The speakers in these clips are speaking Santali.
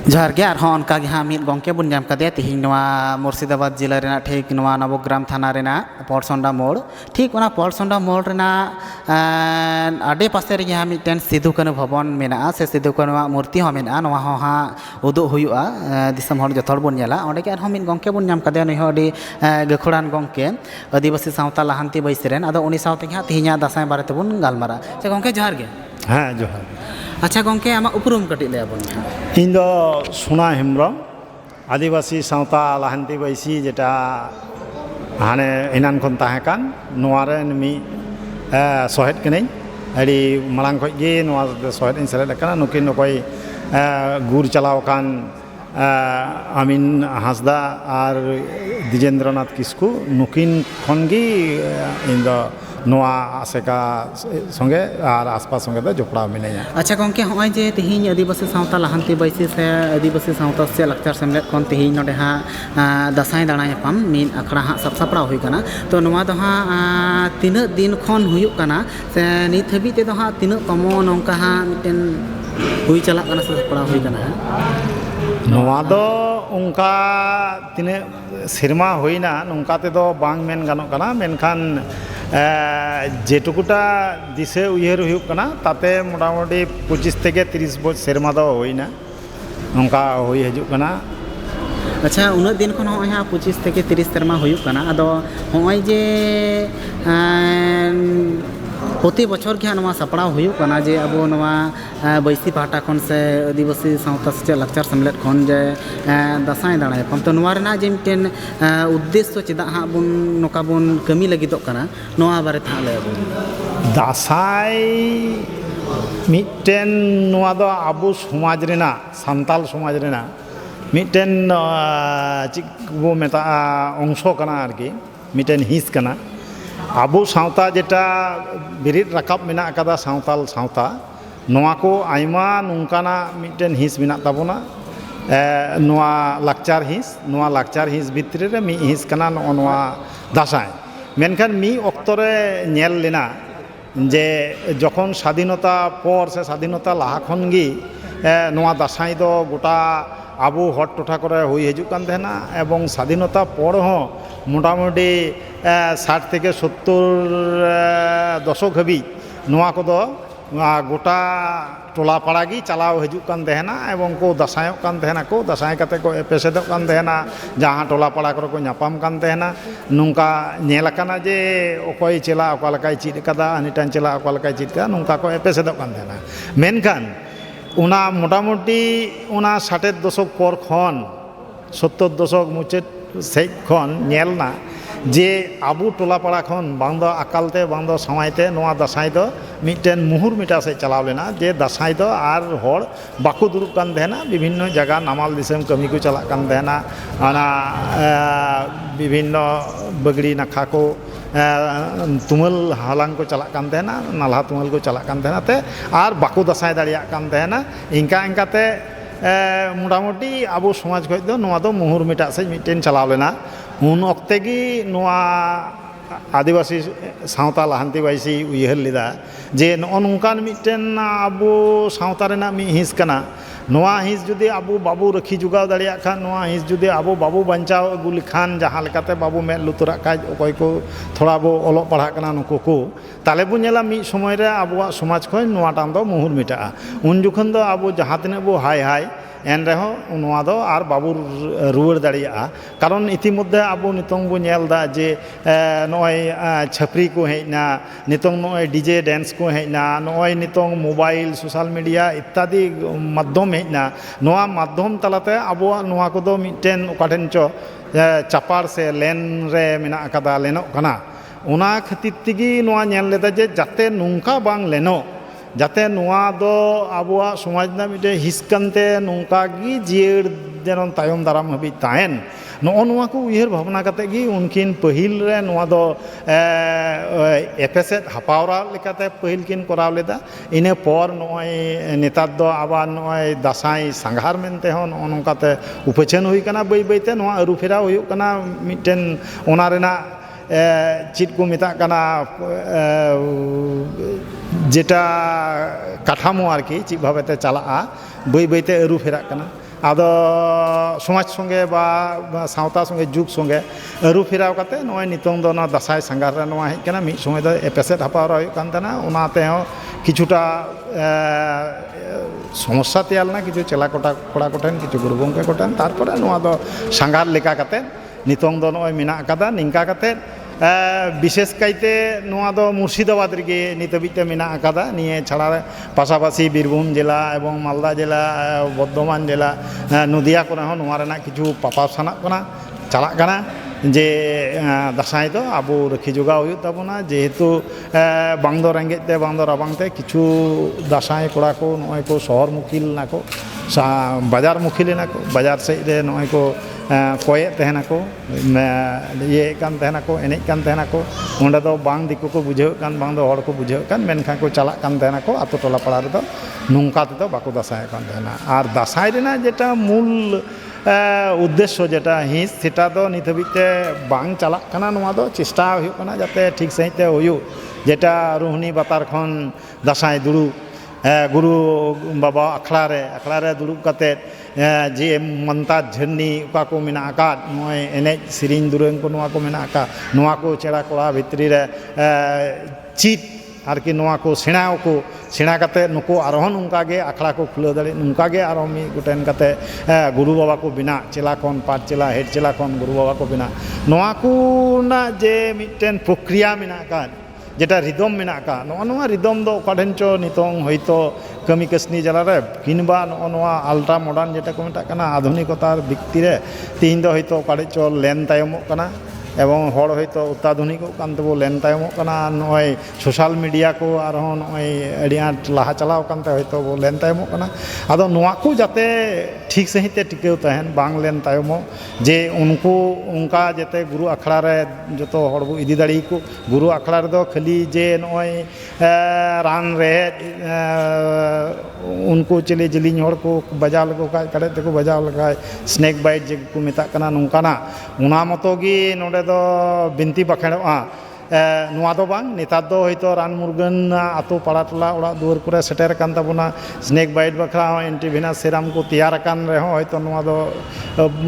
ᱡᱚᱦᱟᱨ ᱜᱮ ᱟᱨᱦᱚᱸ ᱚᱱᱠᱟ ᱜᱮ ᱦᱟᱸᱜ ᱢᱤᱫ ᱜᱚᱢᱠᱮ ᱵᱚᱱ ᱧᱟᱢ ᱠᱟᱫᱮᱭᱟ ᱛᱮᱦᱮᱧ ᱱᱚᱣᱟ ᱢᱩᱨᱥᱤᱫᱟᱵᱟᱫᱽ ᱡᱮᱞᱟ ᱨᱮᱱᱟᱜ ᱴᱷᱤᱠ ᱱᱚᱣᱟ ᱱᱚᱵᱚᱜᱨᱟᱢ ᱛᱷᱟᱱᱟ ᱨᱮᱱᱟᱜ ᱯᱚᱲᱥᱚᱱᱰᱟ ᱢᱳᱲ ᱴᱷᱤᱠ ᱚᱱᱟ ᱯᱚᱲᱥᱚᱱᱰᱟ ᱢᱳᱲ ᱨᱮᱱᱟᱜ ᱟᱰᱮ ᱯᱟᱥᱮ ᱨᱮᱜᱮ ᱦᱟᱸᱜ ᱢᱤᱫᱴᱮᱱ ᱥᱤᱫᱩ ᱠᱟᱹᱱᱩ ᱵᱷᱚᱵᱚᱱ ᱢᱮᱱᱟᱜᱼᱟ ᱥᱮ ᱥᱤᱫᱩ ᱠᱟᱹᱱᱩᱣᱟᱜ ᱢᱩᱨᱛᱤ ᱦᱚᱸ ᱢᱮᱱᱟᱜᱼᱟ ᱱᱚᱣᱟ ᱦᱚᱸ ᱦᱟᱸᱜ ᱩᱫᱩᱜ ᱦᱩᱭᱩᱜᱼᱟ ᱫᱤᱥᱚᱢ ᱦᱚᱲ ᱡᱚᱛᱚ ᱦᱚᱲ ᱵᱚᱱ ᱧᱮᱞᱟ ᱚᱸᱰᱮ ᱜᱮ ᱟᱨᱦᱚᱸ ᱢᱤᱫ ᱜᱚᱢᱠᱮ ᱵᱚᱱ ᱧᱟᱢ ᱠᱟᱫᱮᱭᱟ ᱱᱩᱭ ᱦᱚᱸ ᱟᱹᱰᱤ ᱜᱟᱹᱠᱷᱩᱲᱟᱱ ᱜᱚᱢᱠᱮ ᱟᱹᱫᱤᱵᱟᱹᱥᱤ ᱥᱟᱶᱛᱟ ᱞᱟᱦᱟᱱᱛᱤ ᱵᱟᱹᱭᱥᱤ ᱨᱮᱱ ᱟᱫᱚ ᱩᱱᱤ ᱥᱟᱶ ᱛᱮᱜᱮ ᱦᱟᱸᱜ ᱛᱮᱦᱮᱧᱟᱜ ᱫᱟᱸᱥᱟᱭ ᱵᱟᱨᱮ ᱛᱮᱵᱚᱱ ᱜᱟᱞᱢᱟᱨᱟᱜᱼᱟ ᱟᱪᱪᱷᱟ ᱜᱚᱢᱠᱮ ᱡᱚᱦᱟᱨ ᱜᱮ ᱦᱮᱸ ᱡᱚᱦᱟᱨ ᱟᱪᱪᱷᱟ ᱜᱚᱝᱠᱮ ᱟᱢᱟᱜ ᱩᱯᱨᱩᱢ ᱠᱟᱹᱴᱤᱡ ᱞᱟᱹᱭ ᱟᱵᱚᱱ ᱢᱮ ᱤᱧ ᱫᱚ ᱥᱳᱱᱟ ᱦᱮᱢᱵᱨᱚᱢ ᱟᱹᱫᱤᱵᱟᱹᱥᱤ ᱥᱟᱶᱛᱟ ᱞᱟᱦᱟᱱᱛᱤ ᱵᱟᱹᱭᱥᱤ ᱡᱮᱴᱟ ᱦᱟᱱᱮ ᱮᱱᱟᱱ ᱠᱷᱚᱱ ᱛᱟᱦᱮᱸ ᱠᱟᱱ ᱱᱚᱣᱟ ᱨᱮᱱ ᱢᱤᱫ ᱥᱚᱦᱮᱫ ᱠᱟᱹᱱᱟᱹᱧ ᱟᱹᱰᱤ ᱢᱟᱲᱟᱝ ᱠᱷᱚᱱ ᱜᱮ ᱱᱚᱣᱟ ᱥᱚᱦᱮᱫ ᱨᱤᱧ ᱥᱮᱞᱮᱫ ᱟᱠᱟᱱᱟ ᱱᱩᱠᱤᱱ ᱚᱠᱚᱭ ᱜᱩᱨ ᱪᱟᱞᱟᱣ ᱟᱠᱟᱱ ᱟᱢᱤᱱ ᱦᱟᱸᱥᱫᱟ ᱟᱨ ᱫᱤᱡᱮᱱᱫᱨᱚᱱᱟᱛᱷ ᱠᱤᱥᱠᱩ ᱱᱩᱠᱤᱱ ᱠᱷᱚᱱ ᱜᱮ ᱤᱧ ᱫᱚ ᱱᱚᱣᱟ ᱟᱥᱮᱠᱟ ᱥᱚᱸᱜᱮ ᱟᱨ ᱟᱥᱯᱟ ᱥᱚᱸᱜᱮ ᱫᱚ ᱡᱚᱯᱲᱟᱣ ᱢᱤᱱᱟᱹᱧᱟ ᱟᱪᱪᱷᱟ ᱜᱚᱢᱠᱮ ᱱᱚᱜᱼᱚᱭ ᱡᱮ ᱛᱮᱦᱮᱧ ᱟᱹᱫᱤᱵᱟᱹᱥᱤ ᱥᱟᱶᱛᱟ ᱞᱟᱦᱟᱱᱛᱤ ᱵᱟᱹᱭᱥᱤ ᱥᱮ ᱟᱹᱫᱤᱵᱟᱹᱥᱤ ᱥᱟᱶᱛᱟ ᱥᱮ ᱞᱟᱠᱪᱟᱨ ᱥᱮᱢᱞᱮᱫ ᱠᱷᱚᱱ ᱛᱮᱦᱮᱧ ᱱᱚᱰᱮ ᱦᱟᱸᱜ ᱫᱟᱸᱥᱟᱭ ᱫᱟᱬᱟ ᱧᱟᱯᱟᱢ ᱢᱤᱫ ᱟᱠᱷᱲᱟ ᱦᱟᱸᱜ ᱥᱟᱵ ᱥᱟᱯᱲᱟᱣ ᱦᱩᱭ ᱠᱟᱱᱟ ᱛᱚ ᱱᱚᱣᱟ ᱫᱚ ᱦᱟᱸᱜ ᱛᱤᱱᱟᱹᱜ ᱫᱤᱱ ᱠᱷᱚᱱ ᱦᱩᱭᱩᱜ ᱠᱟᱱᱟ ᱥᱮ ᱱᱤᱛ ᱦᱟᱹᱵᱤᱡ ᱛᱮᱫᱚ ᱦᱟᱸᱜ ᱛᱤᱱᱟᱹᱜ ᱛᱚᱢᱚ ᱱᱚᱝᱠᱟ ᱦᱟᱸᱜ ᱢᱤᱫᱴᱮᱱ ᱦᱩᱭ ᱪᱟᱞᱟᱜ ᱠᱟᱱᱟ ᱥᱮ ᱥᱟᱯᱲᱟᱣ ᱦᱩᱭ ᱠᱟᱱᱟ ᱦᱟᱸᱜ ᱱᱚᱣᱟ ᱫᱚ ᱚᱱᱠᱟ ᱛᱤᱱᱟᱹᱜ ᱥᱮᱨᱢᱟ ᱦᱩᱭᱱᱟ ᱱᱚᱝᱠᱟ ᱛᱮᱫᱚ ᱵᱟᱝ ᱢᱮᱱ ᱜᱟᱱᱚᱜ ᱠᱟᱱᱟ ᱢᱮᱱᱠᱷᱟᱱ ᱡᱮᱴᱩᱠᱩᱴᱟ ᱫᱤᱥᱟᱹ ᱩᱭᱦᱟᱹᱨ ᱦᱩᱭᱩᱜ ᱠᱟᱱᱟ ᱛᱟᱛᱮ ᱢᱚᱴᱟᱢᱩᱴᱤ ᱯᱚᱸᱪᱤᱥ ᱛᱷᱮᱠᱮ ᱛᱤᱨᱤᱥ ᱥᱮᱨᱢᱟ ᱫᱚ ᱦᱩᱭᱱᱟ ᱱᱚᱝᱠᱟ ᱦᱩᱭ ᱦᱤᱡᱩᱜ ᱠᱟᱱᱟ ᱟᱪᱪᱷᱟ ᱩᱱᱟᱹᱜ ᱫᱤᱱ ᱠᱷᱚᱱ ᱦᱚᱸᱜᱼᱚᱭ ᱦᱟᱸᱜ ᱯᱚᱸᱪᱤᱥ ᱛᱷᱮᱠᱮ ᱛᱤᱨᱤᱥ ᱥᱮᱨᱢᱟ ᱦᱩᱭᱩᱜ ᱠᱟᱱᱟ ᱟᱫᱚ ᱦᱚᱸᱜᱼᱚᱭ ᱡᱮ ᱯᱨᱚᱛᱤ ᱵᱚᱪᱷᱚᱨ ᱜᱮ ᱦᱟᱸᱜ ᱱᱚᱣᱟ ᱥᱟᱯᱲᱟᱣ ᱦᱩᱭᱩᱜ ᱠᱟᱱᱟ ᱡᱮ ᱟᱵᱚ ᱱᱚᱣᱟ ᱵᱟᱹᱭᱥᱤ ᱯᱟᱦᱴᱟ ᱠᱷᱚᱱ ᱥᱮ ᱟᱹᱫᱤᱵᱟᱹᱥᱤ ᱥᱟᱶᱛᱟ ᱥᱮᱪᱮᱫ ᱞᱟᱠᱪᱟᱨ ᱥᱮᱢᱞᱮᱫ ᱠᱷᱚᱱ ᱡᱮ ᱫᱟᱸᱥᱟᱭ ᱫᱟᱬᱟᱭ ᱛᱚ ᱱᱚᱣᱟ ᱨᱮᱱᱟᱜ ᱡᱮ ᱢᱤᱫᱴᱮᱱ ᱩᱫᱽᱫᱮᱥᱥᱚ ᱪᱮᱫᱟᱜ ᱦᱟᱸᱜ ᱵᱚᱱ ᱱᱚᱝᱠᱟ ᱵᱚᱱ ᱠᱟᱹᱢᱤ ᱞᱟᱹᱜᱤᱫᱚᱜ ᱠᱟᱱᱟ ᱱᱚᱣᱟ ᱵᱟᱨᱮ ᱛᱮ ᱞᱟᱹᱭ ᱟᱵᱚᱱ ᱫᱟᱸᱥᱟᱭ ᱢᱤᱫᱴᱮᱱ ᱱᱚᱣᱟ ᱫᱚ ᱟᱵᱚ ᱥᱚᱢᱟᱡᱽ ᱨᱮᱱᱟᱜ ᱥᱟᱱᱛᱟᱞ ᱥᱚᱢᱟᱡᱽ ᱨᱮᱱᱟᱜ ᱢᱤᱫᱴᱮᱱ ᱪᱮᱫ ᱵᱚ ᱢᱮᱛᱟᱜᱼᱟ ᱚᱝᱥᱚ ᱠᱟᱱᱟ ᱟᱨᱠᱤ ᱢᱤᱫᱴᱮᱱ ᱦᱤᱸᱥ ᱠᱟᱱᱟ ᱟᱵᱚ ᱥᱟᱶᱛᱟ ᱡᱮᱴᱟ ᱵᱮᱨᱮᱫ ᱨᱟᱠᱟᱵ ᱢᱮᱱᱟᱜ ᱠᱟᱫᱟ ᱥᱟᱱᱛᱟᱞ ᱥᱟᱶᱛᱟ ᱱᱚᱣᱟ ᱠᱚ ᱟᱭᱢᱟ ᱱᱚᱝᱠᱟᱱᱟᱜ ᱢᱤᱫᱴᱮᱱ ᱦᱤᱸᱥ ᱢᱮᱱᱟᱜ ᱛᱟᱵᱚᱱᱟ ᱱᱚᱣᱟ ᱞᱟᱠᱪᱟᱨ ᱦᱤᱸᱥ ᱱᱚᱣᱟ ᱞᱟᱠᱪᱟᱨ ᱦᱤᱸᱥ ᱵᱷᱤᱛᱨᱤ ᱨᱮ ᱢᱤᱫ ᱦᱤᱸᱥ ᱠᱟᱱᱟ ᱱᱚᱜᱼᱚ ᱱᱚᱣᱟ ᱫᱟᱸᱥᱟᱭ ᱢᱮᱱᱠᱷᱟᱱ ᱢᱤᱫ ᱚᱠᱛᱚ ᱨᱮ ᱧᱮᱞ ᱞᱮᱱᱟ ᱡᱮ ᱡᱚᱠᱷᱚᱱ ᱥᱟᱫᱷᱤᱱᱚᱛᱟ ᱯᱚᱨ ᱥᱮ ᱥᱟᱫᱷᱤᱱᱚᱛᱟ ᱞᱟᱦᱟ ᱠᱷᱚᱱ ᱜᱮ ᱱᱚᱣᱟ ᱫᱟᱸᱥᱟᱭ ᱫᱚ ᱜᱚᱴᱟ ᱟᱵᱚ ᱦᱚᱲ ᱴᱚᱴᱷᱟ ᱠᱚᱨᱮ ᱦᱩᱭ ᱦᱤᱡᱩᱜ ᱠᱟᱱ ᱛᱟᱦᱮᱱᱟ ᱮᱵᱚᱝ ᱥᱟᱫᱷᱤᱱᱚᱛᱟ ᱯᱚᱨ ᱦᱚᱸ ᱢᱚᱴᱟᱢᱩᱴᱤ ᱥᱟᱴ ᱛᱷᱮᱠᱮ ᱥᱳᱛᱛᱳᱨ ᱫᱚᱥᱚᱠ ᱦᱟᱹᱵᱤᱡ ᱱᱚᱣᱟ ᱠᱚᱫᱚ ᱜᱚᱴᱟ ᱴᱚᱞᱟ ᱯᱟᱲᱟ ᱜᱮ ᱪᱟᱞᱟᱣ ᱦᱤᱡᱩᱜ ᱠᱟᱱ ᱛᱟᱦᱮᱱᱟ ᱮᱵᱚᱝ ᱠᱚ ᱫᱟᱸᱥᱟᱭᱚᱜ ᱠᱟᱱ ᱛᱟᱦᱮᱱᱟ ᱠᱚ ᱫᱟᱸᱥᱟᱭ ᱠᱟᱛᱮᱫ ᱠᱚ ᱮᱯᱮᱥᱮᱫᱚᱜ ᱠᱟᱱ ᱛᱟᱦᱮᱱᱟ ᱡᱟᱦᱟᱸ ᱴᱚᱞᱟ ᱯᱟᱲᱟ ᱠᱚᱨᱮ ᱠᱚ ᱧᱟᱯᱟᱢ ᱠᱟᱱ ᱛᱟᱦᱮᱱᱟ ᱱᱚᱝᱠᱟ ᱧᱮᱞ ᱟᱠᱟᱱᱟ ᱡᱮ ᱚᱠᱚᱭ ᱪᱮᱞᱟ ᱚᱠᱟ ᱞᱮᱠᱟᱭ ᱪᱮᱫ ᱠᱟᱫᱟ ᱦᱟᱹᱱᱤᱴᱟᱝ ᱪᱮᱞᱟ ᱚᱠᱟ ᱞᱮᱠᱟᱭ ᱪᱮᱫ ᱠᱟᱫᱟ ᱱᱚᱝᱠᱟ ᱠᱚ ᱮᱯᱮᱥᱮᱫᱚᱜ ᱠᱟᱱ ᱛᱟᱦᱮᱱᱟ ᱢᱮᱱᱠᱷᱟᱱ ᱚᱱᱟ ᱢᱳᱴᱟᱢᱩᱴᱤ ᱚᱱᱟ ᱥᱟᱴᱮᱨ ᱫᱚᱥᱚᱠ ᱯᱚᱨ ᱠᱷᱚᱱ ᱥᱳᱛᱛᱚᱨ ᱫᱚᱥᱚᱠ ᱢᱩᱪᱟᱹᱫ ᱥᱮᱡ ᱠᱷᱚᱱ ᱧᱮᱞ ᱮᱱᱟ ᱡᱮ ᱟᱵᱚ ᱴᱚᱞᱟ ᱯᱟᱲᱟ ᱠᱷᱚᱱ ᱵᱟᱝ ᱫᱚ ᱟᱠᱟᱞ ᱛᱮ ᱵᱟᱝ ᱫᱚ ᱥᱟᱶᱟᱭ ᱛᱮ ᱱᱚᱣᱟ ᱫᱟᱸᱥᱟᱭ ᱫᱚ ᱢᱤᱫᱴᱮᱱ ᱢᱩᱦᱩᱨ ᱢᱮᱴᱟ ᱥᱮᱡ ᱪᱟᱞᱟᱣ ᱞᱮᱱᱟ ᱡᱮ ᱫᱟᱸᱥᱟᱭ ᱫᱚ ᱟᱨ ᱦᱚᱲ ᱵᱟᱠᱚ ᱫᱩᱲᱩᱵ ᱠᱟᱱ ᱛᱟᱦᱮᱱᱟ ᱵᱤᱵᱷᱤᱱᱱᱚ ᱡᱟᱭᱜᱟ ᱱᱟᱢᱟᱞ ᱫᱤᱥᱚᱢ ᱠᱟᱹᱢᱤ ᱠᱚ ᱪᱟᱞᱟᱜ ᱠᱟᱱ ᱛᱟᱦᱮᱱᱟ ᱚᱱᱟ ᱵᱤᱵᱷᱤᱱᱱᱚ ᱵᱟᱹᱜᱽᱲᱤ ᱱᱟᱠᱷᱟ ᱠᱚ ᱛᱩᱢᱟᱹᱞ ᱦᱟᱞᱟᱝ ᱠᱚ ᱪᱟᱞᱟᱜ ᱠᱟᱱ ᱛᱟᱦᱮᱱᱟ ᱱᱟᱞᱦᱟ ᱛᱩᱢᱟᱹᱞ ᱠᱚ ᱪᱟᱞᱟᱜ ᱠᱟᱱ ᱛᱟᱦᱮᱱᱟ ᱛᱮ ᱟᱨ ᱵᱟᱠᱚ ᱫᱟᱸᱥᱟᱭ ᱫᱟᱲᱮᱭᱟᱜ ᱠᱟᱱ ᱛᱟᱦᱮᱱᱟ ᱤᱱᱠᱟ ᱤᱱᱠᱟᱛᱮ ᱢᱚᱴᱟᱢᱩᱴᱤ ᱟᱵᱚ ᱥᱚᱢᱟᱡᱽ ᱠᱷᱚᱡ ᱫᱚ ᱱᱚᱣᱟ ᱫᱚ ᱢᱩᱦᱩᱨ ᱢᱮᱴᱟᱜ ᱥᱮᱡ ᱢᱤᱫᱴᱮᱱ ᱪᱟᱞᱟᱣ ᱞᱮᱱᱟ ᱩᱱ ᱚᱠᱛᱮ ᱜᱮ ᱱᱚᱣᱟ ᱟᱹᱫᱤᱵᱟᱹᱥᱤ ᱥᱟᱶᱛᱟ ᱞᱟᱦᱟᱱᱛᱤ ᱵᱟᱭᱥᱤ ᱩᱭᱦᱟᱹᱨ ᱞᱮᱫᱟ ᱡᱮ ᱱᱚᱜᱼᱚ ᱱᱚᱝᱠᱟᱱ ᱢᱤᱫᱴᱮᱱ ᱟᱵᱚ ᱥᱟᱶᱛᱟ ᱨᱮᱱᱟᱜ ᱢᱤᱫ ᱦᱤᱸᱥ ᱠᱟᱱᱟ ᱱᱚᱣᱟ ᱦᱤᱸᱥ ᱡᱩᱫᱤ ᱟᱵᱚ ᱵᱟᱵᱚ ᱨᱟᱹᱠᱷᱤ ᱡᱚᱜᱟᱣ ᱫᱟᱲᱮᱭᱟᱜ ᱠᱷᱟᱱ ᱱᱚᱣᱟ ᱦᱤᱸᱥ ᱡᱩᱫᱤ ᱟᱵᱚ ᱵᱟᱵᱚ ᱵᱟᱧᱪᱟᱣ ᱟᱹᱜᱩ ᱞᱮᱠᱷᱟᱱ ᱡᱟᱦᱟᱸ ᱞᱮᱠᱟᱛᱮ ᱵᱟᱵᱚ ᱢᱮᱫ ᱞᱩᱛᱩᱨᱟᱜ ᱠᱷᱟᱡ ᱚᱠᱚᱭ ᱠᱚ ᱛᱷᱚᱲᱟ ᱵᱚ ᱚᱞᱚᱜ ᱯᱟᱲᱦᱟᱜ ᱠᱟᱱᱟ ᱱᱩᱠᱩ ᱠᱚ ᱛᱟᱦᱚᱞᱮ ᱵᱚᱱ ᱧᱮᱞᱟ ᱢᱤᱫ ᱥᱚᱢᱚᱭ ᱨᱮ ᱟᱵᱚᱣᱟᱜ ᱥᱚᱢᱟᱡᱽ ᱠᱷᱚᱱ ᱱᱚᱣᱟᱴᱟᱝ ᱫᱚ ᱢᱩᱦᱩᱨ ᱢᱮᱴᱟᱜᱼᱟ ᱩᱱ ᱡᱚᱠᱷᱚᱱ ᱫᱚ ᱟᱵᱚ ᱡᱟᱦᱟᱸ ᱛᱤᱱᱟᱹᱜ ᱵᱚᱱ ᱦᱟᱭ ᱦᱟᱭ ᱮᱱ ᱨᱮᱦᱚᱸ ᱱᱚᱣᱟ ᱫᱚ ᱟᱨ ᱵᱟᱵᱚ ᱨᱩᱣᱟᱹᱲ ᱫᱟᱲᱮᱭᱟᱜᱼᱟ ᱠᱟᱨᱚᱱ ᱤᱛᱤ ᱢᱚᱫᱽᱫᱷᱮ ᱟᱵᱚ ᱱᱤᱛᱚᱝ ᱵᱚᱱ ᱧᱮᱞ ᱮᱫᱟ ᱡᱮ ᱱᱚᱜᱼᱚᱭ ᱪᱷᱟᱹᱯᱨᱤ ᱠᱚ ᱦᱮᱡ ᱮᱱᱟ ᱱᱤᱛᱚᱝ ᱱᱚᱜᱼᱚᱭ ᱰᱤᱡᱮ ᱰᱮᱱᱥ ᱠᱚ ᱦᱮᱡ ᱮᱱᱟ ᱱᱚᱜᱼᱚᱭ ᱱᱤᱛᱚᱝ ᱢᱳᱵᱟᱭᱤᱞ ᱥᱳᱥᱟᱞ ᱢᱤᱰᱤᱭᱟ ᱤᱛᱛᱟᱫᱤ ᱢᱟᱫᱽᱫᱷᱚᱢ ᱦᱮᱡ ᱮᱱᱟ ᱱᱚᱣᱟ ᱢᱟᱫᱽᱫᱷᱚᱢ ᱛᱟᱞᱟᱛᱮ ᱟᱵᱚᱣᱟᱜ ᱱᱚᱣᱟ ᱠᱚᱫᱚ ᱢᱤᱫᱴᱮᱱ ᱚᱠᱟ ᱴᱷᱮᱱ ᱪᱚ ᱪᱟᱯᱟᱲ ᱥᱮ ᱞᱮᱱ ᱨᱮ ᱢᱮᱱᱟᱜ ᱟᱠᱟᱫᱟ ᱞᱮᱱᱚᱜ ᱠᱟᱱᱟ ᱚᱱᱟ ᱠᱷᱟᱹᱛᱤᱨ ᱛᱮᱜᱮ ᱱᱚᱣᱟ ᱧᱮᱞ ᱞᱮᱫᱟ ᱡᱮ ᱡᱟᱛᱮ ᱱᱚᱝᱠᱟ ᱵᱟᱝ ᱞᱮᱱᱚᱜ ᱡᱟᱛᱮ ᱱᱚᱣᱟ ᱫᱚ ᱟᱵᱚᱣᱟᱜ ᱥᱚᱢᱟᱡᱽ ᱨᱮᱱᱟᱜ ᱢᱤᱫᱴᱮᱱ ᱦᱤᱸᱥ ᱠᱟᱱᱛᱮ ᱱᱚᱝᱠᱟ ᱜᱮ ᱡᱤᱭᱟᱹᱲ ᱡᱮᱱᱚ ᱛᱟᱭᱚᱢ ᱫᱟᱨᱟᱢ ᱦᱟᱹᱵᱤᱡ ᱛᱟᱦᱮᱱ ᱱᱚᱜᱼᱚ ᱱᱚᱣᱟ ᱠᱚ ᱩᱭᱦᱟᱹᱨ ᱵᱷᱟᱵᱽᱱᱟ ᱠᱟᱛᱮᱫ ᱜᱮ ᱩᱱᱠᱤᱱ ᱯᱟᱹᱦᱤᱞ ᱨᱮ ᱱᱚᱣᱟ ᱫᱚ ᱮᱯᱮᱥᱮᱫ ᱦᱟᱯᱟᱣᱨᱟᱣ ᱞᱮᱠᱟᱛᱮ ᱯᱟᱹᱦᱤᱞ ᱠᱤᱱ ᱠᱚᱨᱟᱣ ᱞᱮᱫᱟ ᱤᱱᱟᱹ ᱯᱚᱨ ᱱᱚᱜᱼᱚᱭ ᱱᱮᱛᱟᱨ ᱫᱚ ᱟᱵᱟᱨ ᱱᱚᱜᱼᱚᱭ ᱫᱟᱸᱥᱟᱭ ᱥᱟᱸᱜᱷᱟᱨ ᱢᱮᱱᱛᱮ ᱦᱚᱸ ᱱᱚᱜᱼᱚ ᱱᱚᱝᱠᱟᱛᱮ ᱩᱯᱟᱹᱪᱷᱟᱹᱱ ᱦᱩᱭ ᱠᱟᱱᱟ ᱵᱟᱹᱭ ᱵᱟᱹᱭᱛᱮ ᱱᱚᱣᱟ ᱟᱹᱨᱩ ᱯᱷᱮᱨᱟᱣ ᱦᱩᱭᱩᱜ ᱠᱟᱱᱟ ᱢᱤᱫᱴᱮᱱ ᱚᱱᱟ ᱨᱮᱱᱟᱜ ᱪᱮᱫ ᱠᱚ ᱢᱮᱛᱟᱜ ᱠᱟᱱᱟ ᱡᱮᱴᱟ ᱠᱟᱴᱷᱟᱢᱳ ᱟᱨᱠᱤ ᱪᱮᱫ ᱵᱷᱟᱵᱮ ᱛᱮ ᱪᱟᱞᱟᱜᱼᱟ ᱵᱟᱹᱭ ᱵᱟᱹᱭ ᱛᱮ ᱟᱹᱨᱩ ᱯᱷᱮᱨᱟᱜ ᱠᱟᱱᱟ ᱟᱫᱚ ᱥᱚᱢᱟᱡᱽ ᱥᱚᱝᱜᱮ ᱵᱟ ᱥᱟᱶᱛᱟ ᱥᱚᱝᱜᱮ ᱡᱩᱜᱽ ᱥᱚᱝᱜᱮ ᱟᱹᱨᱩ ᱯᱷᱮᱨᱟᱣ ᱠᱟᱛᱮ ᱱᱚᱜᱼᱚᱭ ᱱᱤᱛᱳᱝ ᱫᱚ ᱱᱚᱣᱟ ᱫᱟᱸᱥᱟᱭ ᱥᱟᱸᱜᱷᱟᱨ ᱨᱮ ᱱᱚᱣᱟ ᱦᱮᱡ ᱠᱟᱱᱟ ᱢᱤᱫ ᱥᱚᱢᱚᱭ ᱫᱚ ᱮᱯᱮ ᱥᱮᱫ ᱦᱮᱯᱨᱟᱣ ᱦᱩᱭᱩᱜ ᱠᱟᱱ ᱛᱟᱦᱮᱱᱟ ᱚᱱᱟ ᱛᱮᱦᱚᱸ ᱠᱤᱪᱷᱩᱴᱟ ᱥᱚᱢᱚᱥᱥᱟ ᱛᱮᱭᱟᱨ ᱞᱮᱱᱟ ᱠᱤᱪᱷᱩ ᱪᱮᱞᱟ ᱠᱚᱴᱟ ᱠᱚᱲᱟ ᱠᱚᱴᱷᱮᱱ ᱠᱤᱪᱷᱩ ᱜᱩᱨᱩ ᱜᱚᱝᱠᱮ ᱠᱚᱴᱷᱮᱱ ᱛᱟᱨᱯᱚᱨᱮ ᱱᱚᱣᱟ ᱫᱚ ᱥᱟᱸᱜᱷᱟᱨ ᱞᱮᱠᱟ ᱠᱟᱛᱮ ᱱᱤᱛᱚᱝ ᱫᱚ ᱱᱚᱜᱼᱚᱭ ᱢᱮᱱᱟᱜ ᱠᱟᱫᱟ ᱱᱤᱝᱠᱟ ᱠᱟᱛᱮᱫ ᱵᱤᱥᱮᱥ ᱠᱟᱭᱛᱮ ᱱᱚᱣᱟ ᱫᱚ ᱢᱩᱨᱥᱤᱫᱟᱵᱟᱫᱽ ᱨᱮᱜᱮ ᱱᱤᱛ ᱦᱟᱹᱵᱤᱡ ᱛᱮ ᱢᱮᱱᱟᱜ ᱠᱟᱫᱟ ᱱᱤᱭᱟᱹ ᱪᱷᱟᱲᱟ ᱯᱟᱥᱟᱯᱟᱥᱤ ᱵᱤᱨᱵᱷᱩᱢ ᱡᱮᱞᱟ ᱮᱵᱚᱝ ᱢᱟᱞᱫᱟ ᱡᱮᱞᱟ ᱵᱚᱨᱫᱷᱚᱢᱟᱱ ᱡᱮᱞᱟ ᱱᱚᱫᱤᱭᱟ ᱠᱚᱨᱮ ᱦᱚᱸ ᱱᱚᱣᱟ ᱨᱮᱱᱟᱜ ᱠᱤᱪᱷᱩ ᱯᱟᱯᱟᱥ ᱥᱮᱱᱚᱜ ᱠᱟᱱᱟ ᱪᱟᱞᱟᱜ ᱠᱟᱱᱟ ᱡᱮ ᱫᱟᱸᱥᱟᱭ ᱫᱚ ᱟᱵᱚ ᱨᱩᱠᱷᱤᱭᱟᱹ ᱡᱚᱜᱟᱣ ᱦᱩᱭᱩᱜ ᱛᱟᱵᱚᱱᱟ ᱡᱮᱦᱮᱛᱩ ᱵᱟᱝ ᱫᱚ ᱨᱮᱸᱜᱮᱡ ᱛᱮ ᱵᱟᱝ ᱫᱚ ᱨᱟᱵᱟᱝ ᱛᱮ ᱠᱤᱪᱷᱩ ᱫᱟᱸᱥᱟᱭ ᱠᱚᱲᱟ ᱠᱚ ᱱᱚᱜᱼᱚᱭ ᱠᱚ ᱥᱚᱦᱚᱨ ᱢᱩᱠᱷᱤ ᱞᱮᱱᱟ ᱠᱚ ᱵᱟᱡᱟᱨ ᱢᱩᱠᱷᱤ ᱞᱮᱱᱟ ᱠᱚ ᱵᱟᱡᱟᱨ ᱥᱮᱫ ᱨᱮ ᱱᱚᱜᱼᱚᱭ ᱠᱚ ᱠᱚᱭᱮᱫ ᱛᱟᱦᱮᱱᱟᱠᱚ ᱤᱭᱟᱹᱭᱮᱫ ᱠᱟᱱ ᱛᱟᱦᱮᱱᱟᱠᱚ ᱮᱱᱮᱡ ᱠᱟᱱ ᱛᱟᱦᱮᱱᱟᱠᱚ ᱚᱸᱰᱮ ᱫᱚ ᱵᱟᱝ ᱫᱤᱠᱩ ᱠᱚ ᱵᱩᱡᱷᱟᱹᱣᱮᱫ ᱠᱟᱱ ᱵᱟᱝ ᱫᱚ ᱦᱚᱲ ᱠᱚ ᱵᱩᱡᱷᱟᱹᱣᱮᱫ ᱠᱟᱱ ᱢᱮᱱᱠᱷᱟᱱ ᱠᱚ ᱪᱟᱞᱟᱜ ᱠᱟᱱ ᱛᱟᱦᱮᱱᱟᱠᱚ ᱟᱹᱛᱩ ᱴᱚᱞᱟ ᱯᱟᱲᱟ ᱨᱮᱫᱚ ᱱᱚᱝᱠᱟ ᱛᱮᱫᱚ ᱵᱟᱠᱚ ᱫᱟᱸᱥᱟᱭᱚᱜ ᱠᱟᱱ ᱛᱟᱦᱮᱱᱟ ᱟᱨ ᱫᱟᱸᱥᱟᱭ ᱨᱮᱱᱟᱜ ᱡᱮᱴᱟ ᱢᱩᱞ ᱩᱫᱽᱫᱮᱥᱥᱚ ᱡᱮᱴᱟ ᱦᱤᱸᱥ ᱥᱮᱴᱟ ᱫᱚ ᱱᱤᱛ ᱦᱟᱹᱵᱤᱡ ᱛᱮ ᱵᱟᱝ ᱪᱟᱞᱟᱜ ᱠᱟᱱᱟ ᱱᱚᱣᱟ ᱫᱚ ᱪᱮᱥᱴᱟ ᱦᱩᱭᱩᱜ ᱠᱟᱱᱟ ᱡᱟᱛᱮ ᱴᱷᱤᱠ ᱥᱟᱺᱦᱤᱡ ᱛᱮ ᱦᱩᱭᱩᱜ ᱡᱮᱴᱟ ᱨᱳᱦᱱᱤ ᱵᱟᱛᱟᱨ ᱠᱷᱚᱱ ᱫᱟᱸᱥᱟᱭ ᱫᱩᱲᱩᱵ ᱜᱩᱨᱩ ᱵᱟᱵᱟᱣᱟᱜ ᱟᱠᱷᱲᱟ ᱨᱮ ᱟᱠᱷᱲᱟ ᱨᱮ ᱫᱩᱲᱩᱵ ᱠᱟᱛᱮᱫ ᱡᱮ ᱢᱟᱱᱛᱟᱨ ᱡᱷᱟᱹᱨᱱᱤ ᱚᱠᱟ ᱠᱚ ᱢᱮᱱᱟᱜ ᱟᱠᱟᱫ ᱱᱚᱜᱼᱚᱭ ᱮᱱᱮᱡ ᱥᱮᱨᱮᱧ ᱫᱩᱨᱟᱹᱝ ᱠᱚ ᱱᱚᱣᱟ ᱠᱚ ᱢᱮᱱᱟᱜ ᱟᱠᱟᱫ ᱱᱚᱣᱟ ᱠᱚ ᱪᱮᱬᱮ ᱠᱚᱲᱟ ᱵᱷᱤᱛᱨᱤ ᱨᱮ ᱪᱮᱫ ᱟᱨᱠᱤ ᱱᱚᱣᱟ ᱠᱚ ᱥᱮᱬᱟ ᱟᱠᱚ ᱥᱮᱬᱟ ᱠᱟᱛᱮ ᱱᱩᱠᱩ ᱟᱨᱦᱚᱸ ᱱᱚᱝᱠᱟ ᱜᱮ ᱟᱠᱷᱲᱟ ᱠᱚ ᱠᱷᱩᱞᱟᱹᱣ ᱫᱟᱲᱮᱜ ᱱᱚᱝᱠᱟ ᱜᱮ ᱟᱨᱦᱚᱸ ᱢᱤᱫ ᱜᱚᱴᱮᱱ ᱠᱟᱛᱮ ᱜᱩᱨᱩ ᱵᱟᱵᱟ ᱠᱚ ᱵᱮᱱᱟᱜ ᱪᱮᱞᱟ ᱠᱷᱚᱱ ᱯᱟᱨ ᱪᱮᱞᱟ ᱦᱮᱰ ᱪᱮᱞᱟ ᱠᱷᱚᱱ ᱜᱩᱨᱩ ᱵᱟᱵᱟ ᱠᱚ ᱵᱮᱱᱟᱜ ᱱᱚᱣᱟ ᱠᱚ ᱨᱮᱱᱟᱜ ᱡᱮ ᱢᱤᱫᱴᱮᱱ ᱯᱨᱚᱠᱨᱤᱭᱟ ᱢᱮᱱᱟᱜ ᱟᱠᱟᱫ ᱡᱮᱴᱟ ᱨᱤᱫᱚᱢ ᱢᱮᱱᱟᱜ ᱟᱠᱟᱫ ᱱᱚᱜᱼᱚ ᱱᱚᱣᱟ ᱨᱤᱫᱚᱢ ᱫᱚ ᱚᱠᱟ ᱴᱷᱮᱱ ᱪᱚ ᱱᱤᱛᱚᱝ ᱦᱳᱭᱛᱳ ᱠᱟᱹᱢᱤ ᱠᱟᱹᱥᱱᱤ ᱡᱟᱞᱟ ᱨᱮ ᱠᱤᱢᱵᱟ ᱱᱚᱜᱼᱚ ᱱᱚᱣᱟ ᱟᱞᱴᱨᱟ ᱢᱚᱰᱟᱨᱱ ᱡᱮᱴᱟ ᱠᱚ ᱢᱮᱛᱟᱜ ᱠᱟᱱᱟ ᱟᱫᱷᱩᱱᱤᱠᱚᱛᱟ ᱵᱷᱤᱛᱛᱤ ᱨᱮ ᱛᱮᱦᱮᱧ ᱫᱚ ᱦᱳᱭᱛᱳ ᱚᱠᱟ ᱴᱷᱮᱱ ᱪᱚ ᱞᱮᱱ ᱛᱟᱭᱚᱢᱚᱜ ᱠᱟᱱᱟ ᱮᱵᱚᱝ ᱦᱚᱲ ᱦᱳᱭᱛᱳ ᱚᱛᱛᱟᱫᱷᱩᱱᱤᱠᱚᱜ ᱠᱟᱱ ᱛᱮᱵᱚ ᱞᱮᱱ ᱛᱟᱭᱚᱢᱚᱜ ᱠᱟᱱᱟ ᱟᱨ ᱱᱚᱜᱼᱚᱭ ᱥᱳᱥᱟᱞ ᱢᱤᱰᱤᱭᱟ ᱠᱚ ᱟᱨᱦᱚᱸ ᱱᱚᱜᱼᱚᱭ ᱟᱹᱰᱤ ᱟᱸᱴ ᱞᱟᱦᱟ ᱪᱟᱞᱟᱣ ᱟᱠᱟᱱ ᱛᱮ ᱦᱳᱭᱛᱳ ᱵᱚ ᱞᱮᱱ ᱛᱟᱭᱚᱢᱚᱜ ᱠᱟᱱᱟ ᱟᱫᱚ ᱱᱚᱣᱟ ᱠᱚ ᱡᱟᱛᱮ ᱴᱷᱤᱠ ᱥᱟᱺᱦᱤᱡ ᱛᱮ ᱴᱤᱠᱟᱹᱣ ᱛᱟᱦᱮᱱ ᱵᱟᱝ ᱞᱮᱱ ᱛᱟᱭᱚᱢᱚᱜ ᱡᱮ ᱩᱱᱠᱩ ᱚᱱᱠᱟ ᱡᱟᱛᱮ ᱜᱩᱨᱩ ᱟᱠᱷᱲᱟ ᱨᱮ ᱡᱚᱛᱚ ᱦᱚᱲ ᱵᱚ ᱤᱫᱤ ᱫᱟᱲᱮᱭᱟᱠᱚ ᱜᱩᱨᱩ ᱟᱠᱷᱲᱟ ᱨᱮᱫᱚ ᱠᱷᱟᱹᱞᱤ ᱡᱮ ᱱᱚᱜᱼᱚᱭ ᱨᱟᱱ ᱨᱮᱦᱮᱫ ᱩᱱᱠᱩ ᱪᱤᱞᱤ ᱡᱤᱞᱤᱧ ᱦᱚᱲ ᱠᱚ ᱵᱟᱡᱟᱣ ᱞᱮᱠᱚ ᱠᱷᱟᱱ ᱠᱟᱹᱴᱩᱵ ᱛᱮᱠᱚ ᱵᱟᱡᱟᱣ ᱞᱮᱠᱚ ᱠᱷᱟᱱ ᱥᱱᱮᱠ ᱵᱟᱭᱤᱴ ᱡᱮ ᱠᱚ ᱢᱮᱛᱟᱜ ᱠᱟᱱᱟ ᱱᱚᱝᱠᱟᱱᱟᱜ ᱚᱱᱟ ᱢᱚᱛᱚ ᱜᱮ ᱱᱚᱰᱮ ᱫᱚ ᱵᱤᱱᱛᱤ ᱵᱟᱸᱠᱷᱮᱲᱚᱜᱼᱟ ᱱᱚᱣᱟ ᱫᱚ ᱵᱟᱝ ᱱᱮᱛᱟᱨ ᱫᱚ ᱦᱳᱭᱛᱳ ᱨᱟᱱ ᱢᱩᱨᱜᱟᱹᱱ ᱨᱮᱱᱟᱜ ᱟᱹᱛᱩ ᱯᱟᱲᱟ ᱴᱚᱞᱟ ᱚᱲᱟᱜ ᱫᱩᱣᱟᱹᱨ ᱠᱚᱨᱮ ᱥᱮᱴᱮᱨ ᱟᱠᱟᱱ ᱛᱟᱵᱚᱱᱟ ᱥᱱᱮᱠ ᱵᱟᱭᱤᱴ ᱵᱟᱠᱷᱨᱟ ᱦᱚᱸ ᱮᱱᱴᱤᱵᱷᱤᱱᱟᱥ ᱥᱤᱨᱟᱢ ᱠᱚ ᱛᱮᱭᱟᱨ ᱟᱠᱟᱱ ᱨᱮᱦᱚᱸ ᱦᱳᱭᱛᱳ ᱱᱚᱣᱟ ᱫᱚ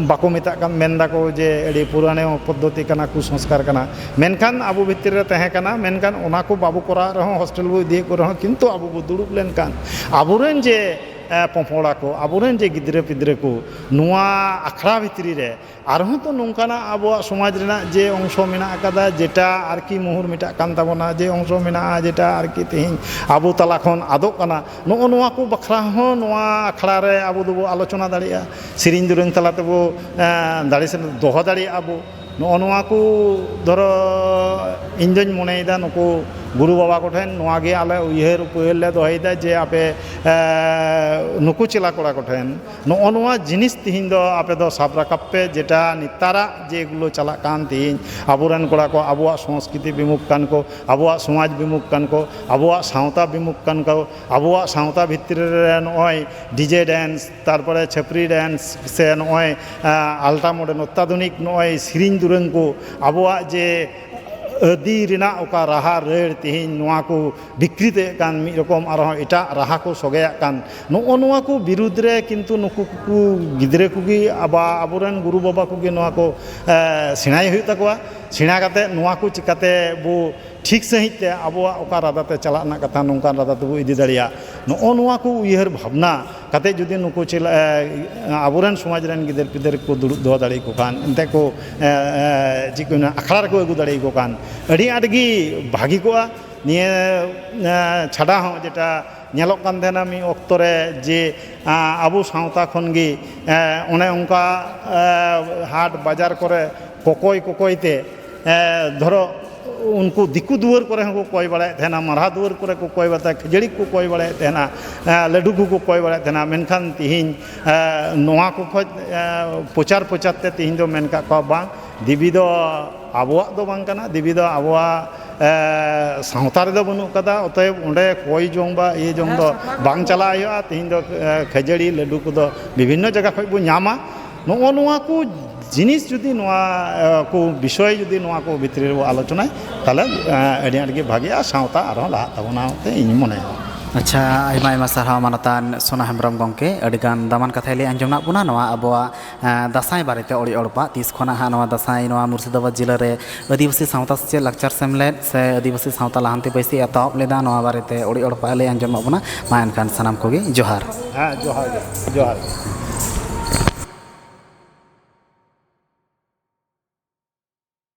ᱵᱟᱠᱚ ᱢᱮᱛᱟᱜ ᱠᱟᱱ ᱢᱮᱱ ᱫᱟᱠᱚ ᱡᱮ ᱟᱹᱰᱤ ᱯᱩᱨᱟᱱᱳ ᱯᱚᱫᱽᱫᱷᱚᱛᱤ ᱠᱟᱱᱟ ᱠᱩᱥᱚᱝᱥᱠᱟᱨ ᱠᱟᱱᱟ ᱢᱮᱱᱠᱷᱟᱱ ᱟᱵᱚ ᱵᱷᱤᱛᱤᱨ ᱨᱮ ᱛᱟᱦᱮᱸ ᱠᱟᱱᱟ ᱢᱮᱱᱠᱷᱟᱱ ᱚᱱᱟ ᱠᱚ ᱵᱟᱵᱚ ᱠᱚᱨᱟᱣᱮᱫ ᱨᱮᱦᱚᱸ ᱦᱳᱥᱴᱮᱞ ᱵᱚᱱ ᱤᱫᱤᱭᱮᱫ ᱠᱚ ᱨᱮᱦᱚᱸ ᱠᱤᱱᱛᱩ ᱟᱵᱚ ᱵᱚᱱ ᱫᱩᱲᱩᱵ ᱞᱮᱱᱠᱷᱟᱱ ᱟᱵᱚ ᱨᱮᱱ ᱡᱮ ᱯᱚᱯᱚᱝᱲᱟ ᱠᱚ ᱟᱵᱚ ᱨᱮᱱ ᱡᱮ ᱜᱤᱫᱽᱨᱟᱹ ᱯᱤᱫᱽᱨᱟᱹ ᱠᱚ ᱱᱚᱣᱟ ᱟᱠᱷᱲᱟ ᱵᱷᱤᱛᱨᱤ ᱨᱮ ᱟᱨᱦᱚᱸ ᱛᱚ ᱱᱚᱝᱠᱟᱱᱟᱜ ᱟᱵᱚᱣᱟᱜ ᱥᱚᱢᱟᱡᱽ ᱨᱮᱱᱟᱜ ᱡᱮ ᱚᱝᱥᱚ ᱢᱮᱱᱟᱜ ᱠᱟᱫᱟ ᱡᱮᱴᱟ ᱟᱨᱠᱤ ᱢᱳᱦᱚᱨ ᱢᱮᱴᱟᱜ ᱠᱟᱱ ᱛᱟᱵᱚᱱᱟ ᱡᱮ ᱚᱝᱥᱚ ᱢᱮᱱᱟᱜᱼᱟ ᱡᱮᱴᱟ ᱟᱨᱠᱤ ᱛᱮᱦᱤᱧ ᱟᱵᱚ ᱛᱟᱞᱟ ᱠᱷᱚᱱ ᱟᱫᱚᱜ ᱠᱟᱱᱟ ᱱᱚᱜᱼᱚ ᱱᱚᱣᱟ ᱠᱚ ᱵᱟᱠᱷᱨᱟ ᱦᱚᱸ ᱱᱚᱣᱟ ᱟᱠᱷᱲᱟ ᱨᱮ ᱟᱵᱚ ᱫᱚᱵᱚ ᱟᱞᱳᱪᱚᱱᱟ ᱫᱟᱲᱮᱭᱟᱜᱼᱟ ᱥᱮᱨᱮᱧ ᱫᱩᱨᱟᱹᱝ ᱛᱟᱞᱟ ᱛᱮᱵᱚ ᱫᱟᱲᱮ ᱥᱮ ᱫᱚᱦᱚ ᱫᱟᱲᱮᱭᱟᱜᱼᱟ ᱵᱚ ᱱᱚᱜᱼᱚ ᱱᱚᱣᱟ ᱠᱚ ᱫᱷᱚᱨᱚ ᱤᱧ ᱫᱩᱧ ᱢᱚᱱᱮᱭᱮᱫᱟ ᱱᱩᱠᱩ ᱜᱩᱨᱩ ᱵᱟᱵᱟ ᱠᱚᱴᱷᱮᱱ ᱱᱚᱣᱟ ᱜᱮ ᱟᱞᱮ ᱩᱭᱦᱟᱹᱨ ᱩᱯᱟᱹᱭ ᱞᱮ ᱫᱚᱦᱚᱭᱮᱫᱟ ᱡᱮ ᱟᱯᱮ ᱱᱩᱠᱩ ᱪᱮᱞᱟ ᱠᱚᱲᱟ ᱠᱚᱴᱷᱮᱱ ᱱᱚᱜᱼᱚ ᱱᱚᱣᱟ ᱡᱤᱱᱤᱥ ᱛᱮᱦᱮᱧ ᱫᱚ ᱟᱯᱮ ᱫᱚ ᱥᱟᱵ ᱨᱟᱠᱟᱵ ᱯᱮ ᱡᱮᱴᱟ ᱱᱮᱛᱟᱨᱟᱜ ᱡᱮᱜᱩᱞᱳ ᱪᱟᱞᱟᱜ ᱠᱟᱱ ᱛᱮᱦᱮᱧ ᱟᱵᱚ ᱨᱮᱱ ᱠᱚᱲᱟ ᱠᱚ ᱟᱵᱚᱣᱟᱜ ᱥᱚᱥᱠᱨᱤᱛᱤ ᱵᱤᱢᱩᱠᱛᱟᱱ ᱠᱚ ᱟᱵᱚᱣᱟᱜ ᱥᱚᱢᱟᱡᱽ ᱵᱤᱢᱩᱠ ᱠᱟᱱ ᱠᱚ ᱟᱵᱚᱣᱟᱜ ᱥᱟᱶᱛᱟ ᱵᱤᱢᱩᱠ ᱠᱟᱱ ᱠᱚ ᱟᱵᱚᱣᱟᱜ ᱥᱟᱶᱛᱟ ᱵᱷᱤᱛᱨᱤ ᱨᱮ ᱱᱚᱜᱼᱚᱭ ᱰᱤᱡᱮ ᱰᱮᱱᱥ ᱛᱟᱨᱯᱚᱨᱮ ᱪᱷᱟᱹᱯᱨᱤ ᱰᱮᱱᱥ ᱥᱮ ᱱᱚᱜᱼᱚᱭ ᱟᱞᱴᱨᱟ ᱢᱚᱰᱟᱨᱱ ᱚᱛᱛᱟᱫᱷᱩᱱᱤᱠ ᱱᱚᱜᱼᱚᱭ ᱥᱮᱨᱮᱧ ᱫᱩᱨᱟᱹᱝ ᱠᱚ ᱟᱵᱚᱣᱟᱜ ᱡᱮ ᱟᱹᱫᱤ ᱨᱮᱱᱟᱜ ᱚᱠᱟ ᱨᱟᱦᱟ ᱨᱟᱹᱲ ᱛᱮᱦᱮᱧ ᱱᱚᱣᱟ ᱠᱚ ᱵᱤᱠᱨᱤᱛᱮᱜ ᱠᱟᱱ ᱢᱤᱫ ᱨᱚᱠᱚᱢ ᱟᱨᱦᱚᱸ ᱮᱴᱟᱜ ᱨᱟᱦᱟ ᱠᱚ ᱥᱚᱜᱮᱭᱟᱜ ᱠᱟᱱ ᱱᱚᱜᱼᱚ ᱱᱚᱣᱟ ᱠᱚ ᱵᱤᱨᱩᱫᱽ ᱨᱮ ᱠᱤᱱᱛᱩ ᱱᱩᱠᱩ ᱠᱚ ᱜᱤᱫᱽᱨᱟᱹ ᱠᱚᱜᱮ ᱟᱵᱚ ᱟᱵᱚᱨᱮᱱ ᱜᱩᱨᱩ ᱵᱟᱵᱟ ᱠᱚᱜᱮ ᱱᱚᱣᱟ ᱠᱚ ᱥᱮᱬᱟᱭ ᱦᱩᱭᱩᱜ ᱛᱟᱠᱚᱣᱟ ᱥᱮᱬᱟ ᱠᱟᱛᱮᱫ ᱱᱚᱣᱟ ᱠᱚ ᱪᱤᱠᱟᱹᱛᱮ ᱵᱚ ᱴᱷᱤᱠ ᱥᱟᱺᱦᱤᱡ ᱛᱮ ᱟᱵᱚᱣᱟᱜ ᱚᱠᱟ ᱨᱟᱫᱟ ᱛᱮ ᱪᱟᱞᱟᱜ ᱨᱮᱱᱟᱜ ᱠᱟᱛᱷᱟ ᱱᱚᱝᱠᱟᱱ ᱨᱟᱫᱟ ᱛᱮᱵᱚ ᱤᱫᱤ ᱫᱟᱲᱮᱭᱟᱜ ᱱᱚᱜᱼᱚ ᱱᱚᱣᱟ ᱠᱚ ᱩᱭᱦᱟᱹᱨ ᱵᱷᱟᱵᱽᱱᱟ ᱠᱟᱛᱮᱫ ᱡᱩᱫᱤ ᱱᱩᱠᱩ ᱟᱵᱚ ᱨᱮᱱ ᱥᱚᱢᱟᱡᱽ ᱨᱮᱱ ᱜᱤᱫᱟᱹᱨ ᱯᱤᱫᱟᱹᱨ ᱠᱚ ᱫᱩᱲᱩᱵ ᱫᱚᱦᱚ ᱫᱟᱲᱮ ᱟᱠᱚ ᱠᱷᱟᱱ ᱮᱱᱛᱮᱫ ᱠᱚ ᱪᱮᱫ ᱠᱚ ᱢᱮᱱᱟ ᱟᱠᱷᱲᱟ ᱨᱮᱠᱚ ᱟᱹᱜᱩ ᱫᱟᱲᱮ ᱟᱠᱚ ᱠᱷᱟᱱ ᱟᱹᱰᱤ ᱟᱸᱴ ᱜᱮ ᱵᱷᱟᱹᱜᱤ ᱠᱚᱜᱼᱟ ᱱᱤᱭᱟᱹ ᱪᱷᱟᱰᱟ ᱦᱚᱸ ᱡᱮᱴᱟ ᱧᱮᱞᱚᱜ ᱠᱟᱱ ᱛᱟᱦᱮᱱᱟ ᱢᱤᱫ ᱚᱠᱛᱚ ᱨᱮ ᱡᱮ ᱟᱵᱚ ᱥᱟᱶᱛᱟ ᱠᱷᱚᱱ ᱜᱮ ᱚᱱᱮ ᱚᱱᱠᱟ ᱦᱟᱴ ᱵᱟᱡᱟᱨ ᱠᱚᱨᱮ ᱠᱚᱠᱚᱭ ᱠᱚᱠᱚᱭ ᱛᱮ ᱫᱷᱚᱨᱚ ᱩᱱᱠᱩ ᱫᱤᱠᱩ ᱫᱩᱣᱟᱹᱨ ᱠᱚᱨᱮ ᱦᱚᱸᱠᱚ ᱠᱚᱭ ᱵᱟᱲᱟᱭᱮᱫ ᱛᱟᱦᱮᱱᱟ ᱢᱟᱨᱦᱟ ᱫᱩᱣᱟᱹᱨ ᱠᱚᱨᱮ ᱠᱚ ᱠᱚᱭ ᱵᱟᱲᱟᱭᱮᱫ ᱛᱟᱦᱮᱱᱟ ᱠᱷᱟᱹᱡᱟᱹᱲᱤ ᱠᱚᱠᱚ ᱠᱚᱭ ᱵᱟᱲᱟᱭᱮᱫ ᱛᱟᱦᱮᱱᱟ ᱞᱟᱹᱰᱩ ᱠᱚᱠᱚ ᱠᱚᱭ ᱵᱟᱲᱟᱭᱮᱫ ᱛᱟᱦᱮᱱᱟ ᱢᱮᱱᱠᱷᱟᱱ ᱛᱮᱦᱮᱧ ᱱᱚᱣᱟ ᱠᱚ ᱠᱷᱚᱡ ᱯᱨᱚᱪᱟᱨ ᱯᱨᱚᱪᱟᱨ ᱛᱮ ᱛᱮᱦᱮᱧ ᱫᱚ ᱢᱮᱱ ᱠᱟᱜ ᱠᱚᱣᱟ ᱵᱟᱝ ᱫᱮᱵᱤ ᱫᱚ ᱟᱵᱚᱣᱟᱜ ᱫᱚ ᱵᱟᱝ ᱠᱟᱱᱟ ᱫᱮᱵᱤ ᱫᱚ ᱟᱵᱚᱣᱟᱜ ᱥᱟᱶᱛᱟ ᱨᱮᱫᱚ ᱵᱟᱹᱱᱩᱜ ᱠᱟᱫᱟ ᱚᱛᱚᱭᱮᱵ ᱚᱸᱰᱮ ᱠᱚᱭ ᱡᱚᱝ ᱵᱟ ᱤᱭᱟᱹ ᱡᱚᱝ ᱫᱚ ᱵᱟᱝ ᱪᱟᱞᱟᱜ ᱦᱩᱭᱩᱜᱼᱟ ᱛᱮᱦᱮᱧ ᱫᱚ ᱠᱷᱟᱹᱡᱟᱹᱲᱤ ᱞᱟᱹᱰᱩ ᱠᱚᱫᱚ ᱵᱤᱵᱷᱤᱱᱱᱚ ᱡᱟᱭᱜᱟ ᱠᱷᱚᱱ ᱵᱚᱱ ᱧᱟᱢᱟ ᱱᱚᱜᱼᱚ ᱱᱚᱣᱟ ᱠᱚ ᱡᱤᱱᱤᱥ ᱡᱩᱫᱤ ᱱᱚᱣᱟ ᱠᱚ ᱵᱤᱥᱚᱭ ᱡᱩᱫᱤ ᱱᱚᱣᱟ ᱠᱚ ᱵᱷᱤᱛᱨᱤ ᱨᱮᱵᱚᱱ ᱟᱞᱳᱪᱚᱱᱟᱭ ᱛᱟᱦᱚᱞᱮ ᱟᱹᱰᱤ ᱟᱸᱴ ᱜᱮ ᱵᱷᱟᱹᱜᱤᱜᱼᱟ ᱥᱟᱶᱛᱟ ᱟᱨᱦᱚᱸ ᱞᱟᱦᱟᱜ ᱛᱟᱵᱚᱱᱟ ᱢᱮᱱᱛᱮ ᱤᱧ ᱢᱚᱱᱮᱭᱟ ᱟᱪᱪᱷᱟ ᱟᱭᱢᱟ ᱟᱭᱢᱟ ᱥᱟᱨᱦᱟᱣ ᱢᱟᱱᱚᱛᱟᱱ ᱥᱳᱱᱟ ᱦᱮᱢᱵᱨᱚᱢ ᱜᱚᱢᱠᱮ ᱟᱹᱰᱤᱜᱟᱱ ᱫᱟᱢᱟᱱ ᱠᱟᱛᱷᱟᱭ ᱞᱟᱹᱭ ᱟᱸᱡᱚᱢᱟᱜ ᱵᱚᱱᱟ ᱱᱚᱣᱟ ᱟᱵᱚᱣᱟᱜ ᱫᱟᱸᱥᱟᱭ ᱵᱟᱨᱮᱛᱮ ᱚᱲᱮᱡ ᱚᱲᱯᱟᱜ ᱛᱤᱥ ᱠᱷᱚᱱᱟᱜ ᱦᱟᱸᱜ ᱱᱚᱣᱟ ᱫᱟᱸᱥᱟᱭ ᱱᱚᱣᱟ ᱢᱩᱨᱥᱤᱫᱟᱵᱟᱫᱽ ᱡᱮᱞᱟ ᱨᱮ ᱟᱹᱫᱤᱵᱟᱹᱥᱤ ᱥᱟᱶᱛᱟ ᱥᱮᱪᱮᱫ ᱞᱟᱠᱪᱟᱨ ᱥᱮᱢᱞᱮᱫ ᱥᱮ ᱟᱹᱫᱤᱵᱟᱹᱥᱤ ᱥᱟᱶᱛᱟ ᱞᱟᱦᱟᱱᱛᱤ ᱵᱟᱹᱭᱥᱤ ᱮᱛᱚᱦᱚᱵ ᱞᱮᱫᱟ ᱱᱚᱣᱟ ᱵᱟᱨᱮᱛᱮ ᱚᱲᱮᱡ ᱚᱲᱯᱟᱜ ᱮ ᱞᱟᱹᱭ ᱟᱸᱡᱚᱢᱟᱜ ᱵᱚᱱᱟ ᱢᱟ ᱮᱱᱠᱷᱟᱱ ᱥᱟᱱᱟᱢ ᱠᱚᱜᱮ ᱡᱚᱦᱟᱨ ᱦᱮᱸ ᱡᱚᱦᱟᱨ ᱜᱮ ᱡᱚᱦᱟᱨ ᱜᱮ